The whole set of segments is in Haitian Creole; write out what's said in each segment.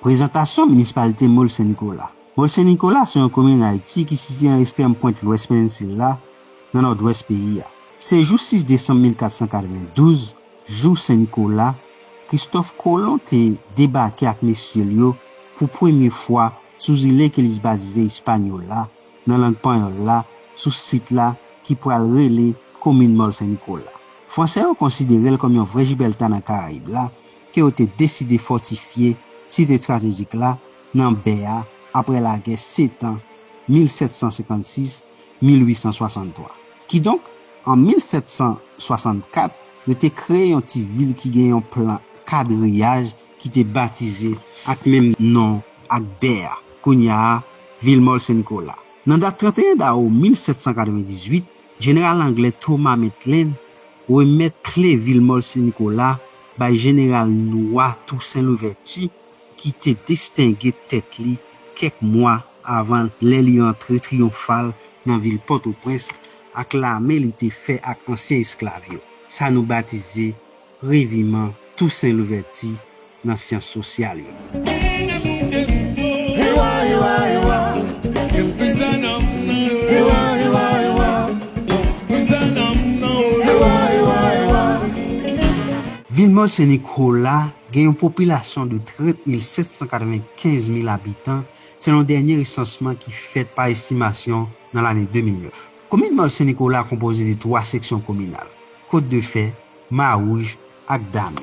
Prezantasyon Minispalite Mol Sen Nikola Mol Sen Nikola se yon komin an Ayiti ki sitye nan estrèm pwent lwès peninsila, nan nòdwès peyi a. Se jou 6 desanm 1492, Jou Sen Nikola, Kristòf Kolon te debake ak mesye l yo pou premye fwa sou zile ke li batize Ispanyola, nan lang panyòl la, sou sit la ki pral rele Komin Mòl Sen Nikola. Fransè yo konsidere l kòm yon vrè Jibèlta nan Karayib la, ke yo te deside fòtifye sit estratejik la nan bè a apre lagè setan 1756, 1863. Kidonk, an 1764, yo te kreye yon ti vil ki gen yon plan kadriyaj ki te batize ak menm non ak bè a, kounye a Villemol Sen Nikola. Nan dat 31 dawou 1798, jeneral anglè Thomas Maitland remèt kle Villemol Sen Nikola bay jeneral nwa Toussaint Louverture, ki te distenge tèt li kèk mwa avan lè li antre triyonfal nan vil Pòtoprens ak lame li te fè ak ansyen esklav yo, sa nou batize Reviman Tousen Louvèti nan syans sosyal yo. Vilmò Sen Nikola Gen yon popilasyon de 30 mil 795 mil abitan selon dènye resansman ki fèt pa estimasyon nan lane 2009. Komin Nò Sen Nikola konpoze de 3 seksyon kominal, Kot de Fè, Mawouj ak Dami.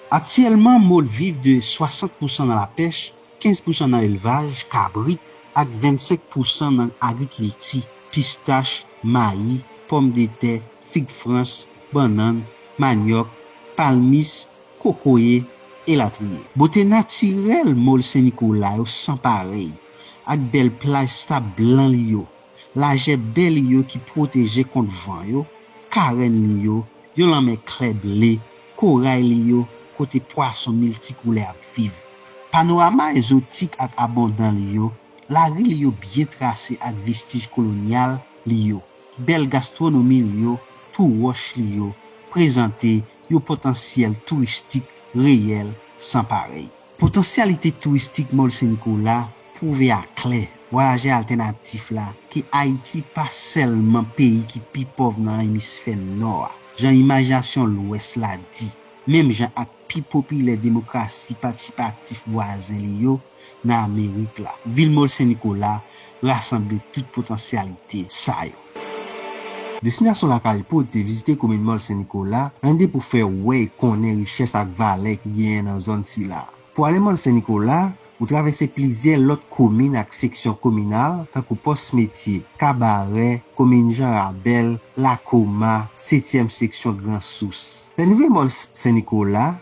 Aktyèlman Maude viv de 60 pousan nan lapèch, 15 pousan nan elvaj, kabrit, ak 25 pousan nan agrikilti, pistach, mayi, pòmdetè, fig frans, bannann, manyòk, palmis, kokoye, elatriye. Bote natirèl Mòl Sen Nikola yo san parèy, ak bèl plaj sab blan li yo, lajè bè li yo ki pwoteje kont van yo, karenn li yo, yon lanmè klè ble, koray li yo kote pwason miltikoulè ap viv, panorama ezotik ak abondan li yo, lari li yo byen trase ak vestij kolonyal li yo, bèl gastwonomi li yo, tou wòch li yo, prezante yon potansyèl touristik reyèl san parèy. Potansyalite touristik Mòl Sen Nikola pwouve a klè vwayajè altènatif la ke Ayiti pa sèlman peyi ki pi pòv nan emisfè Nò a, jan imajinasyon Lwès la di, menm jan ak pi popilè demokrasi patisipatif vwazen li yo, nan Amerik la. Vil Mòl Sen Nikola rasanble tout potansyalite sa yo. Destinasyon Lakay Poud te vizite komin Mòl Sen Nikola nan lide pou fè wè e konnen richès ak valè ki genyen nan zòn sila. Pou ale Mòl Sen Nikola, ou travèse plizyè lòt komin ak seksyon kominal tankou Pòs Metye, Kabarè, komin Jan Rabèl, Lakoma, setyèm seksyon Gran Sous. Lè nou rive Mòl Sen Nikola,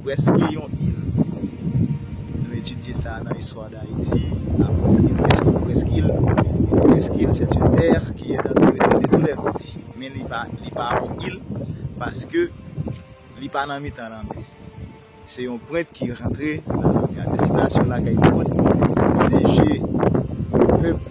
Prèske yon il. Nou etidye sa nan istwa Dayiti, apre sa gen prèske yon prèskil. Yon prèskil se yon tè ki est antoure de tou lè kote. Men li pa yon il paske li pa nan mitan lanmè. Se yon pwent ki rantre nan lanmè a. Destinasyon lakay tout se je pèp.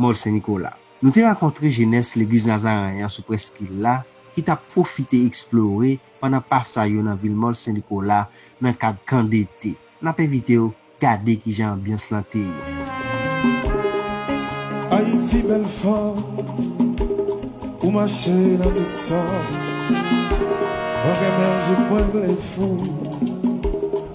Mòl Sen Nikola. Nou te rankontre jenès Legliz Nazareyen an sou prèskil la ki t ap pwofite eksplore pandan pasay yo nan vil Mòl Sen Nikola nan kad kan dete. N ap envite w gade kijan anbyans lan te ye. Ayiti bèl fanm ou mache nan tout sa mwen renmen l jouk mwen vle fou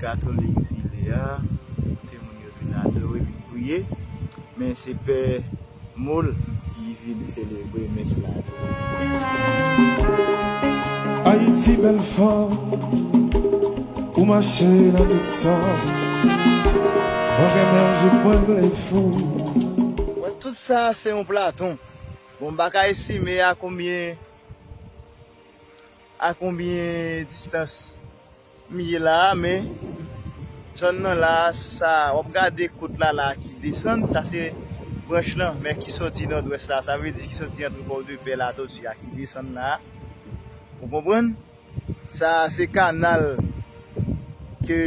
Katolik zile a kote moun yo vin adore, vin priye, men se pè Moule ki vin selebre mès la tou. Bon tout sa se yon platon. Bon m pa ka estime a konbyen a konbyen distans M ye la a men zòn nan la a sa wap gade kot la la a ki desann sa se branch lan men ki sòti nòdwès la a sa vle di ki sòti antre pòdepè latòti a ki desann la a ou konprann sa a se kanal ke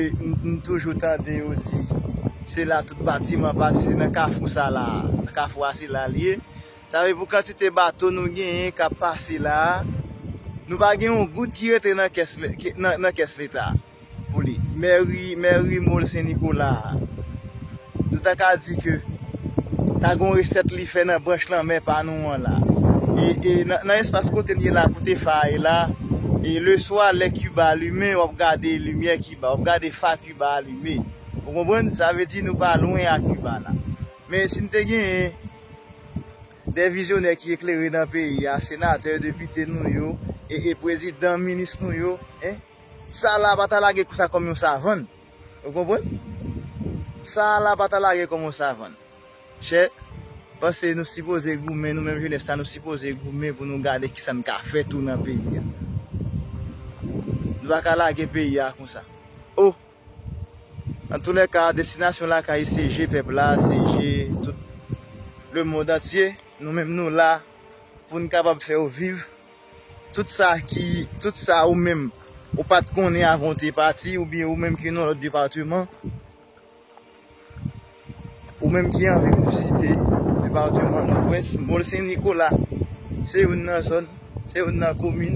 m toujou tande yo di se la tout batiman pase nan kafou sa la a kafou a se la l ye. Sa vle pou kantite bato nou genyen k ap pase la a, nou pa gen yon goud ki rete nan kès leta pou li. Mèri, mèri Mol Sen Nikola a, nou ta ka di ke ta gen yon resèt li fè nan branch lanmè pa nou an la. E nan espas kote m ye la, kote fa a ye la, e leswa lè Kiba limen, w ap gade limyè Kiba, w ap gade fa Kiba a limen. Ou konprann? Sa vle di nou pa lwen a Kiba la. Men si n te genyen. De vizyonè ki eklere nan peyi a, senatè, depite nou yo, e e prezidan, minis nou yo, e. Sa a la pa ta lage sa kòm yon savann. Ou konprann? Sa a la pa ta lage kòm yon savann. Chè, panse nou sipoze goumen, nou menm jenès la nou sipoze goumen pou nou gade ki sa n ka fè tou nan peyi a. Nou pa ka lage peyi a konsa. O! Antoulèka, destinasyon lakay se je pèp la, se je tout lemond antye. Nou menm nou la pou n kapab fè ou viv tout sa ki, tout sa ou menm ou pa t konnen avan ou te pati oubyen ou menm ki nan lòt depateman. Ou menm ki anvi vizite depatman Nòdwès, Mòl Sen Nikola se youn nan zòn, se youn nan komin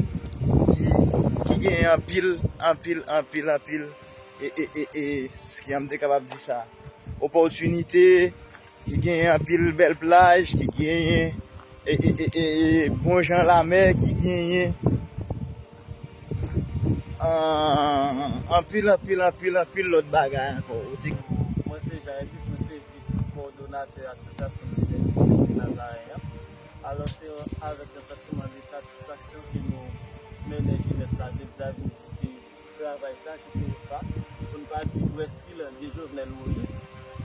ki genyen anpil, anpil, anpil, anpil e, jan m te kapab di sa, opòtinite, ki genyen anpil bèl plaj, ki genyen e, e, e, e, bon jan lamè, ki genyen. Ahh anpil anpil anpil anpil lòt bagay ankò ou di. Mwen se Jean Elvis, mwen se vis kowodonatè asosyasyon jenès legliz Nazaren an. Alò se avèk yon santiman de satisfaksyon ke nou mennen jenès la vin sa vin vizite travay sa ki se epa, pou n pa di prèskil de Jovenel Moïse.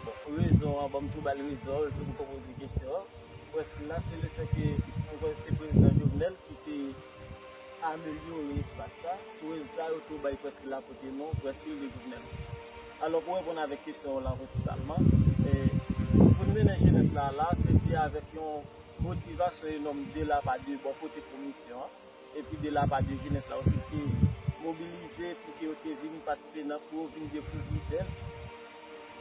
Bon rezon an, bon m tou ba l rezon l, se pou w poze kesyon an. Prèskil la se le fè ke mwen kwè se prezidan Jovenel ki te. amelyore espas sa, pwèv sa yo tou bay prèske la pote non prèske de Jovenel Moïse. Alò pou reponn avèk kesyon w lan prensipalman, pou n mennen jenès la la, se te avèk yon motivasyon enòm de la pa de bò kote komisyon an, epi de la pa de jenès la osi ki te mobilize pou ke yo te vin patisipe nan pou yo vin dekouvri bèl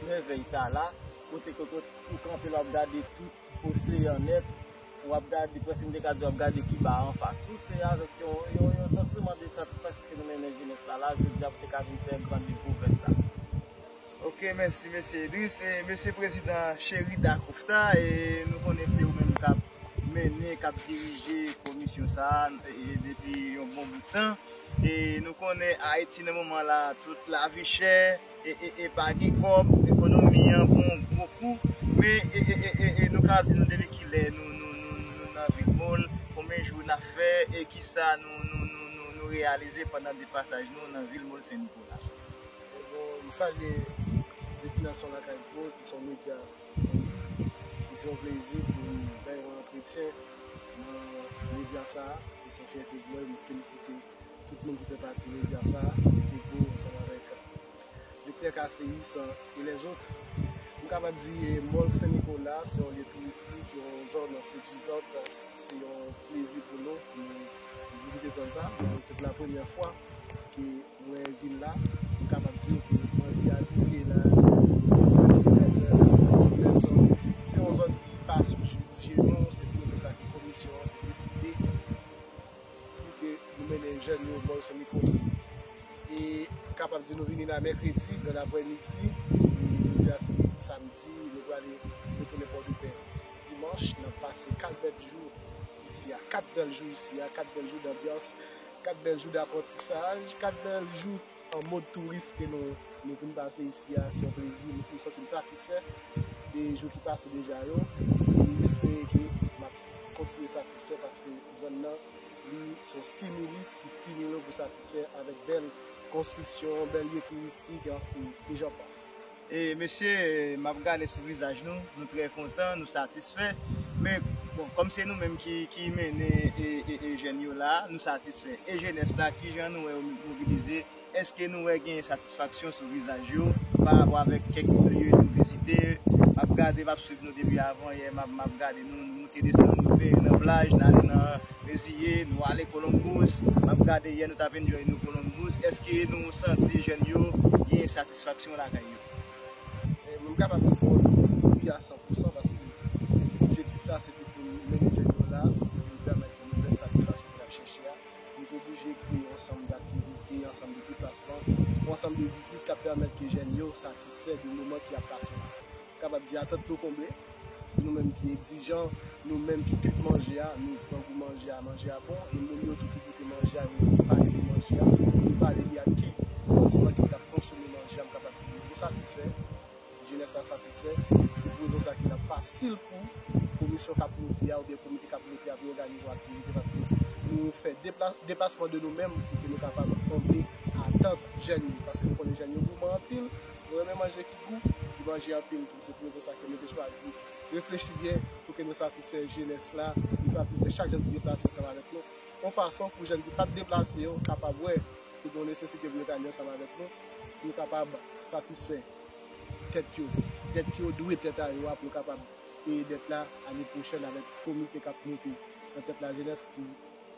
mèvèy sa la, kote ke ou kanpe la w ap gade tout. Oseyan nèt, ou ap gade, prèske m te ka di w ap gade Kiba anfas wi, se avèk yon santiman de satisfaksyon ke nou mennen jenès la la jodi a pou te ka vin fè gran dekouvèt sa. Ok mèsi Mesye Idriss e Mesye Prezidan Cheri Dakofta e nou konnen se ou menm k ap mennen, k ap dirije komisyon sa a depi yon bon bout tan e nou konnen Ayiti nan moman la tout lavi chè, e pa gen kòb, ekonomi an pran yon gwo kou, men e nou ka di nou depi kilè nou nan Bigmall, konbyen jou n ap fè e kisa nou reyalize pandan de pasaj nou nan vil Mall Sen Nikola. Bon, m salye Destinasyon Lakay Pro ki se yon medya an liy. E se yon plezi pou m bay yon antretyen nan medya sa a. E se yon fyète pou mwen, m felisite. Tout moun ki fè pati medya sa a, Feco ansanm avèk Lektè Casséus et les autres, m kapab di Mòl Sen Nikola se yon lye touristik, yon zòn seduizant, se yon plezi pou nou pou nou vizite zòn sa a. Se pou la premyè fwa ke mwen vin la, m kapab di w ke m anvi abite nan yon sipèb zòn. Se yon zòn ki pa sou zye nou, se pou nou se sa ke komisyon an te deside. pou ke nou mennen jèn yo bò Sen Nikodem e kapab di nou vini la mèkredi nan aprè midi e jodi a se samdi nou prale retounen pòdepè dimanch nap pase 4 bèl jou isi a 4 bèl jou isi a 4 bèl jou danbyans 4 bèl jou daprantisaj 4 bèl jou. An mod touris ke nou vin pase isi a, se yon plezi m santi m satisfè de jou ki pase deja yo e m espere ke m ap kontinye satisfè paske zòn nan li se yon stimilis ki stimile w pou satisfè avèk bèl konstriksyon, bèl lye touristik e jan pas. Mesye map gade sou vizaj nou, nou trè kontan, nou satisfè, men bon kòm se nou menm ki mennen e jèn yo la, nou satisfè. E jenès la kijan nou wè yo mobilize, eske nou wè genyen satisfaksyon sou vizaj yo pa rapò avèk kèk lye nou vizite, map gade map swiv nou depi avan yè, map gade nou nou moute desann nou rive nan plaj, nou ale nan Reziye, nou ale Columbus, map gade yè nou tap enjoy nou Columbus, eske nou santi jèn yo genyen satisfaksyon. satisfaksyon lakay yo. Mwen kapab reponn wi a san pou san paske objektif la se te pou mennen jèn yo la pou yo pèmèt yo jwenn satisfaksyon ke y ap chèche a. Nou te oblije kreye yon ansanm d'aktivite, yon ansanm de deplasman, yon ansanm de vizit k ap pèmèt ke jèn yo satisfè de moman ke y ap pase la. Kapab di atant nou konble. Se nou menm ki egzijan, nou menm ki kwit manje a, nou pran gou manje a, manje a bon, e moun yo tou ki goute manje a, yo vin pale de manje a, yo pale li ak ki santiman ke yo t ap konsome manje a, m kapab di yo satisfè, jenès la satisfè, se pou rezon sa ki nan fasil pou komisyon k ap moute a oubyen komite k ap moute a pou yo òganize yon aktivite paske nou fè depasman de nou menm pou ke nou kapab konble atant jèn yo paske nou konnen jèn yo gouman anpil, yo renmen manje. Gou, li manje anpil tou. Se pou rezon sa ke nou te chwazi reflechi byen pou ke nou satisfè jenès la, nou satisfè chak jèn ki deplase ansanm avèk nou, yon fason pou jèn ki pat deplase yo kapab wè ke gen yon nesesite pou yo ta vin ansanm avèk nou, pou yo kapab satisfè tèt yo, dèt yo dwe tèt a yo a, pou yo kapab peye dèt la ane pwochèn avèk komite kap moute nan tèt lajenès pou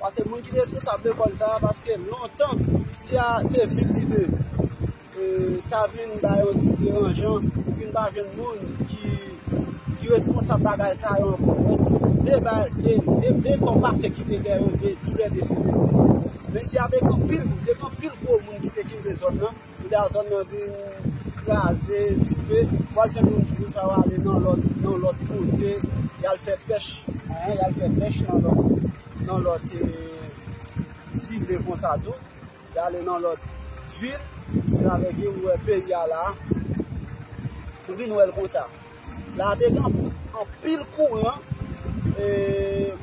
Pase moun ki te responsab lekòl sa a pase lontan isi a se vil li ye e sa vin ba yon ti deranjan nou vin pa jwenn moun ki responsab bagay sa yo ankò donk de sa w pase ki te dèyè yo toulède se te fo men isi a te gen anpil gwo moun ki te kenbe zòn nan Bouda zòn nan vin kraze dife. Wal tande yon ti moun sa yo ale nan lòt nan lòt kote yal fè pèch hein yal fè pèch nan lòt nan lòt zile konsa tou yale nan lòt vil se avèk yo ou wè peyi a la nou vin wèl konsa. La te gen anpil kouran e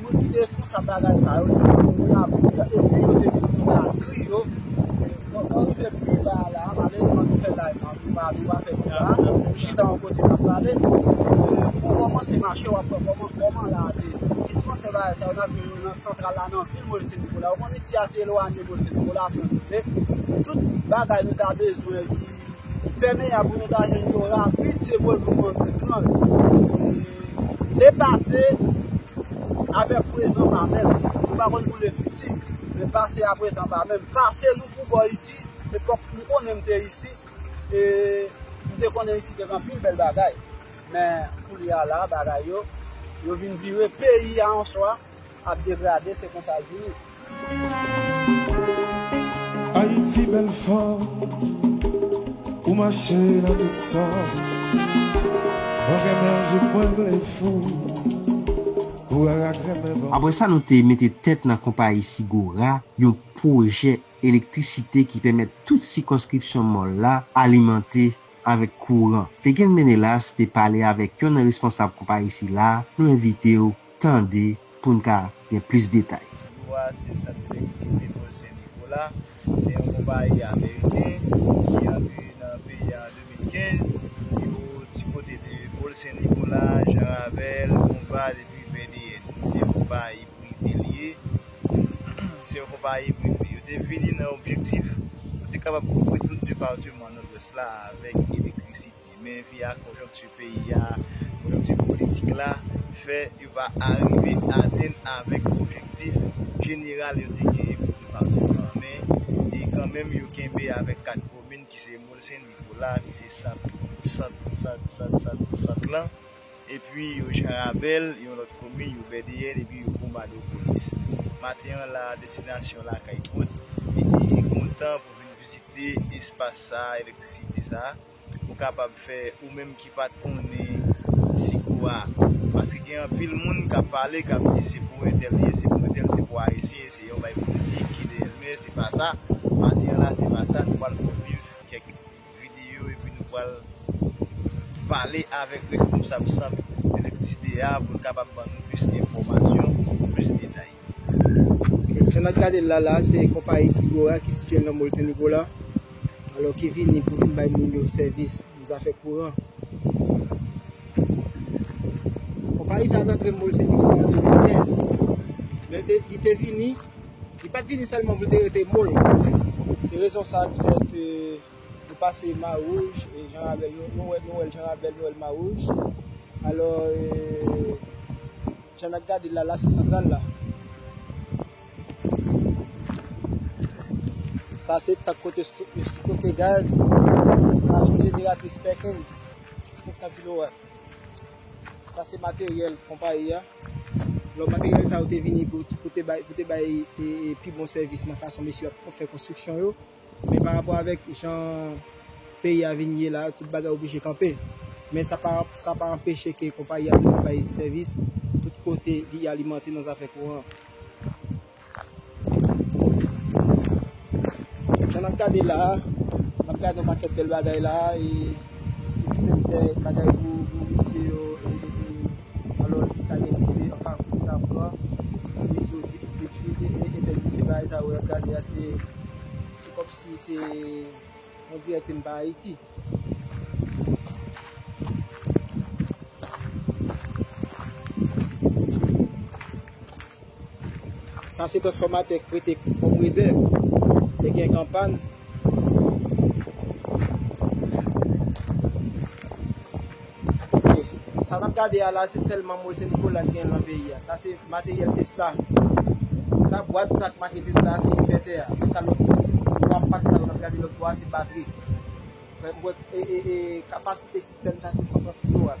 moun ki te responsab bagay sa yo te gen moun la pou yo epi yo te gen moun la kri yo. Bon, mwen rive pou la la, malèzman nou fè lay nan, nou pa nou pa fè pou la, nou chita yon kote nan pale. Pou koman se mache wap wè koman koman la te. Dispanse bagay sa yo nan vil nan santral la nan vil Molse Nikola. Ou konn isi a se elwanye Molse Nikola san zile. Tout bagay nou ta bezwen ki. Ou pèmeyab pou nou ta jwenn yon ravin se bol pou pran nan kan li. Le pase avek prezan pa menm. Nou pa konn pou le fiti. Le pase a prezan pa menm. Pase nou pou bo isi. Epok m konnen m te isi. E m te konnen isi te gen anpil bel bagay. Men koulye a la bagay yo. Yo vin vire peyi a an swa. ap degrade se konsa l vini. Apre sa nou te mete tèt nan konpayi Sigora, yon pwojè elektrisite ki pèmèt tout sikonskripsyon Mòl la alimante avèk kouran. Fegin Menelas te pale avèk yon nan responsab konpayi sila, nou envite w. tande pou n ka gen plis detay. Siwo a se Sant Medsin Lekòl Sen Nikola. Se yon konpayi ameriken ki antre nan peyi a an 2015. Yo di kote de Pol Sen Nikola, Jan Ravèl, Bonbad epi Vèdeyèn. Se yon konpayi prive li ye. Se yon konpayi prive. Yo te vini nan objektif pou te kapab kouvri tout depateman Nòdwès la avèk elektrisite. Men vi a, konjonkti peyi a, konjonkti politik la fè yo pa arive atenn avèk objektif jeneral yo te genyen pou depatman an men e kanmenm yo kenbe avèk 4 komin ki se Mol Sen Nikola ki se sant sant sant sant sant sant lan epi yo Jan Rabèl yon lòt komin yo Bèdeyèn epi yo Bonbadopolis. Maten an la a destinasyon Lakay Kont epi kontan pou vin vizite espas sa a elektrisite sa a. ou kapab fè ou menm ki pat konnen sikou a paske gen anpil moun kap pale kap di se pou entèl li ye se pou entèl se pou ayisyen se yon bay politik ki dèyèl men se pa sa maten an la se pa sa nou pral fè w viv kèk videyo epi nou pral pale avèk responsab sant elektrisite a pou l kapab ban nou plis enfòmasyon plis detay. Jan nap gade l la la se konpayi Sigora ki sitye nan mòl Sennikola alò ki vini pou vin bay moun yo sèvis nan zafè kouran. Konpayi sa te antre mòl Sennikola an 2015 men li te vini, li pat vini sèlman pou l te rete mòl. Se rezon sa ki fè ke nou pase Mawouj e Jan Rabèl, nou wè l Jan Rabèl, nou wè l Mawouj alò. Jan nap gadel la la se santral la. Sa se tank kote yo stoke gaz. Sa son jeneratris Perkins 500 kilowat. Sa se materyèl konpayi ya. Lò materyèl sa yo te vini pou te bay pi bon sèvis nan fason mesye yo ap fè konstriksyon yo. Men pa rapò avèk jan peyi a vin ye la, tout bagay oblije kanpe. Men sa pa anpeche ke konpayi a toujou bay sèvis tout kote li alimante nan zafè kouran. Jan nap gade la a, nap gade yon pakèt bèl bagay la a, e ekstènte bagay pou misye yo. Alò si ta gen dife anfas moun ta pran pou mesye yo detwi etèn dife bagay sa yo wap gade a se kòmsi se on dirè ke n pa ayiti. Sa se transfòmatè k prete kòm rezèv lè gen kan pàn. Ok, sa n ap gade a la se sèlman mol Sen Nikola k genyen lan peyi a. Sa se materyèl Tesla. Sa bwat sa k make Tesla a se envètè a. E sa lòt 3 pak sa yo n ap gade lòt bò a se batri. M kwè e kapasite sistèm sa se 130 kilowat.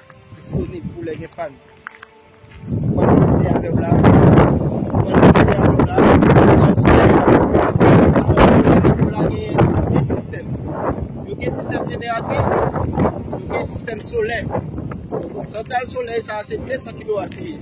Disponib pou lè gen pàn. Mwen deside avèw la. Mwen deside avèw la. Mwen deside avèw la. Yo gen sistèm jeneratris, yo gen sistèm solè. Santal solè sa se 200 kilo wak li.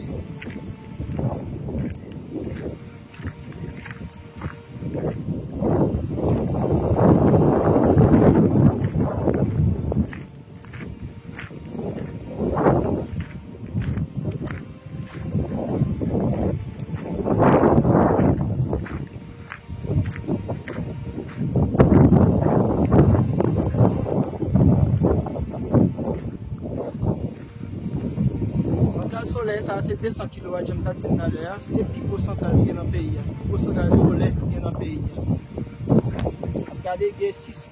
Sa se 200 kW jom ta di nan lè a, se pi gwo santral ki gen nan peyi a, pi gwo santral solè ki gen nan peyi a. Gade gen 6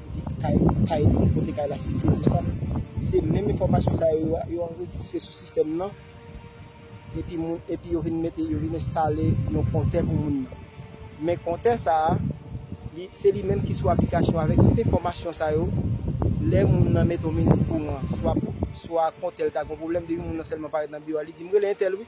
kote kay nou, kay li menm, kote kay la sitye tou sa. Se menm enfòmasyon sa yo a, yo anrejistre sou sistèm nan epi moun, epi yo vin mete, yo vin enstale yon kontè pou moun nan. Men kontè sa a, li, se li menm ki sou aplikasyon avèk tout enfòmasyon sa yo, lè moun nan mete yon minit kouran, swa pou, swa kontè l ta gen yon pwoblèm, depi moun nan sèlman parèt nan biwo a, li di m rele entèl wi.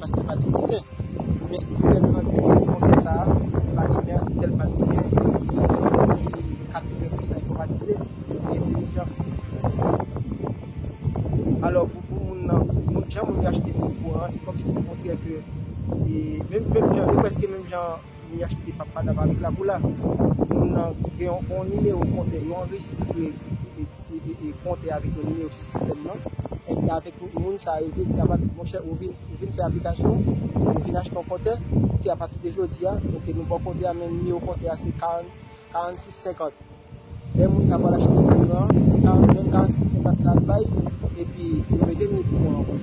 paske pa gen desen men sistèm nan di ke kontè sa a pou pa gen mèt tèl pa dwe gen se yon sistèm ki 80 pousan enfòmatize e ki entelijan alò pou pou moun nan moun jan moun yo achte moun kouran se kòmsi o kontrè ke menm menm jan yo prèske menm jan Li achte pap madam avèk lapoula. Moun nan gen yon nimewo kontè yo anrejistre e kontè avèk yon nimewo sou sistèm nan. Enpi avèk moun sa yo te di a madam monchè ou vin fè aplikasyon ou vin achte yon kontè. Enpi apatide jodi a ok nou ba w kontè a men nimewo kontè a se 40. 46 50 lè moun sa pral achte kouran se 40 menm 46 50 sa ap bay epi yo mete nou okouran ankò.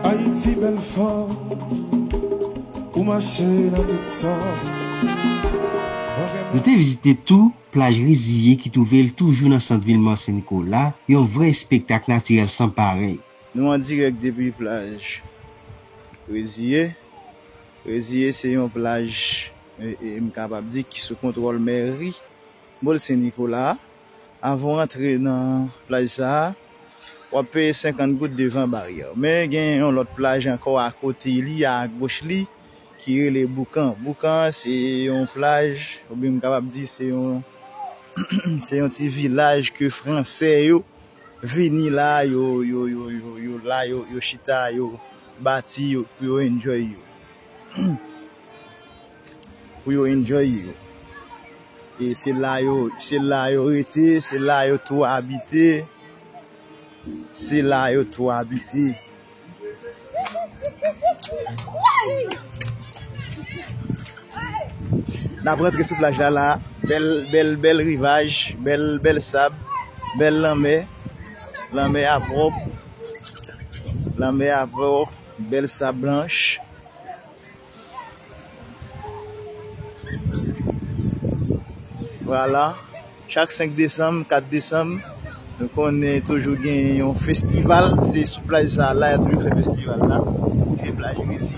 Ayiti bèl fanm ou mache nan tout sans. Nou te vizite tou plaj Riziye ki twouve l toujou nan sant vil Mont Sen Nikola, yon vrè espektak natirèl san parèy. Nou an dirèk depi plaj Riziye. Reziye se yon plaj m kapab di ki sou kontwòl mèri Mòl Sen Nikola a. Avan w antre nan plaj sa, w ap peye 50 goud devan baryè. Men gen yon lòt plaj ankò akote li, agoch li, ki rele Boukan. Boukan an se yon plaj oubyen m kapab di se yon se yon ti vilaj ke fransè yo Vini la yo yo yo yo yo la yo yo chita yo bati yo pou yo enjoy yo pou yo enjoy yo e se la yo se la yo rete se la yo tou abite se la yo tou abite. Nap rantre sou plaj la la bèl bèl bèl rivaj bèl bèl sab bèl lanmè lanmè a pwòp lanmè a pwòp bèl sab blanch. Vwala, chak 5 desanm, 4 desanm, nou konnen toujou gen yon festival, se sou plaj sa la ya toujou fè festival la, ki se plaj Resi.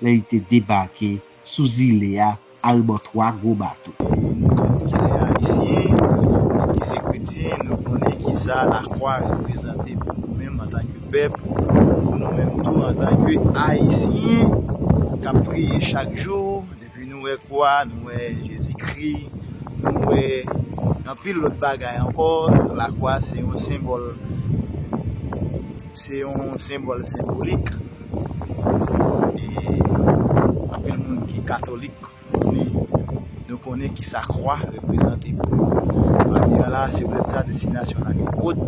lè li te debake sou zile a arebò 3 gwo bato. Nou tout ki se Ayisyen, nou tout ki se kretyen, nou konnen ki sa lakwa reprezante pou nou menm antanke pèp, pou nou menm tou antanke Ayisyen k ap priye chak jou. Depi nou wè kwa, nou wè Jezikri, nou wè anpil lòt bagay ankò, lakwa se yon senbòl, se yon senbòl senbolik. Anpil moun ki katolik konnen nou konnen kisa kwa reprezante pou yo. Madi an la se prèt sa destinasyon l ale Aude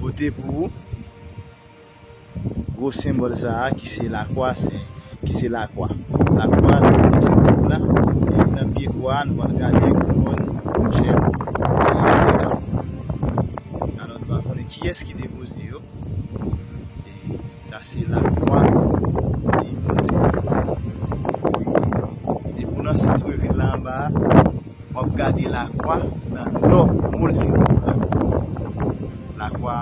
pote pou ou. Gwo senbòl sa a ki se lakwa sen, ki se lakwa. Lakwa nou konnen se Bib la, e nan pye kwa a nou pral gade kouwòn jèn ki rete la. Alò nou va konnen kiyès ki depoze yo. E sa se lakwa peyi Bondye a. E pou nan santre vil la anba a, w ap gade lakwa nan nò, mo l se lakwa. Lakwa.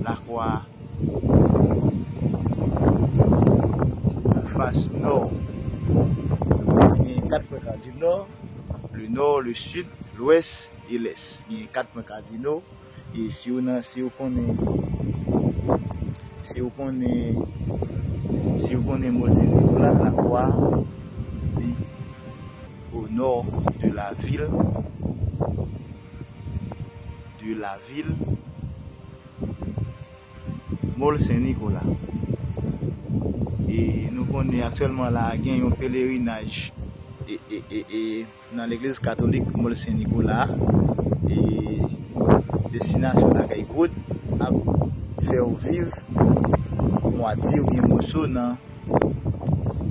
Lakwa a nan fas nò. Li genyen kat pwen kadino, le nò, le sid, lwès e lès. Li genyen kat pwen kadino e si ou nan, si ou konnen, si ou konnen, si ou konnen mozeyik ou la, Lakwa a li o nò de lavil. de la ville Mall Sen Nikola e nou konnen aktyèlman la gen yon pelerinaj e nan legliz katolik Mall Sen Nikola e destinasyon lakay Grot ap fèw viv mwatye oubyen moso nan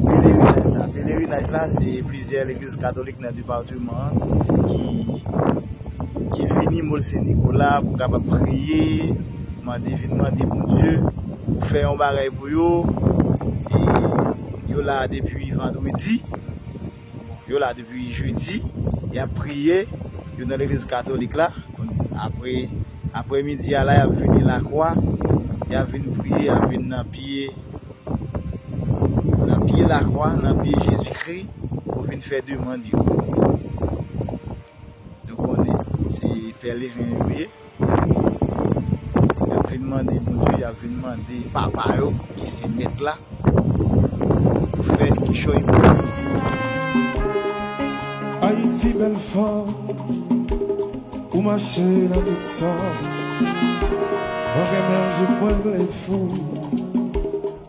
Pelerinaj sa. Pelerinaj la se plizyè legliz katolik nan departeman an ki vini Mol Sen Nikola pou kapab priye, mande vin mande Bondye pou fè yon bagay pou yo. E yo la depi vandredi. Yo la depi jedi, y ap priye, yo nan legliz katolik la, apre aprè midi a la y ap vini lakwa, y ap vin priye, y ap vin nan pye, nan pye lakwa, nan pye Jezi Kri, pou vin fè demand yo. Nou konnen se pèleren yo ye. Yap vin mande Bondye, yap vin mande papa yo ki se mèt la pou fè kichòy pou yo. Ayiti bèl fanm Ou mache nan tout sa Mwen renmen w jouk mwen vle fou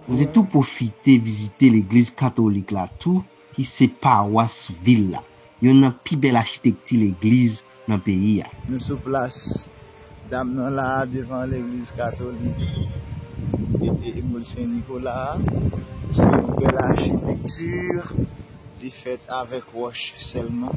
Mwen te tou pwofite vizite legliz katolik la tou. ki se pawas vil la, youn nan pi bèl achitekti legliz nan peyi a. Nou sou plas dam nan la a devan legliz katolik Emmaul Saint Nicolas a. Se yon bèl achitekti, li fèt avèk wòch sèlman.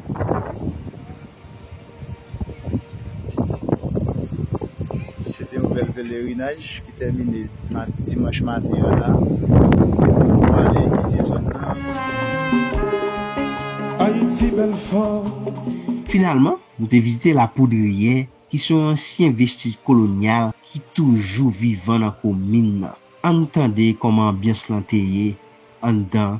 Se te yon bèl pelerinaj ki tèmine dimanch maten an la. Nou pwale kite zòn nan. Ayiti bèl fanm. Finalman, nou te vizite La Poudrière ki se yon ansyen vestij kolonyal ki toujou vivan nan komin nan. Ann tande kòman anbyans lan te ye anndan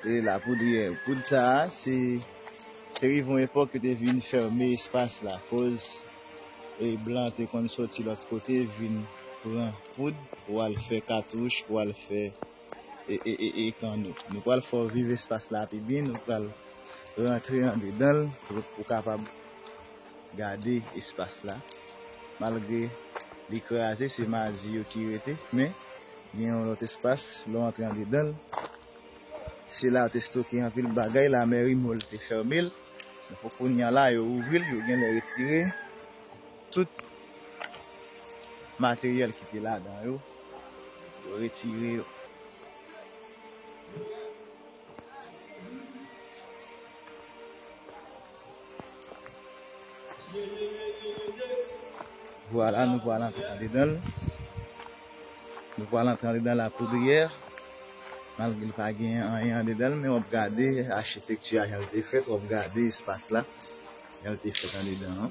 E Lapoudryè, poud sa a, se te rive yon epòk yo te vin fèmen espas la akoz blan te konn soti lòt kote vin pran poud pou al fè katouch, pou al fè kanno. Nou pral fè w viv espas la pi byen, nou pral rantre andedan l pou w kapab. Gade espas la, malgre li kraze se maji yo ki rete men gen yon lòt espas lè w antre andedan l se la yo te stoke anpil bagay lamèri mòl te fèmen l men pou kounya la yo ouvri l yo genlè retire tout materyèl ki te ladan yo yo retire yo. Vwala nou pral antre andedanl. Nou pral antre andedan la poudriè. Malgre li pa gen anyen andedanl men wap gade achitekti a jan li te fèt, wap gade espas la jan li te fèt andedan an.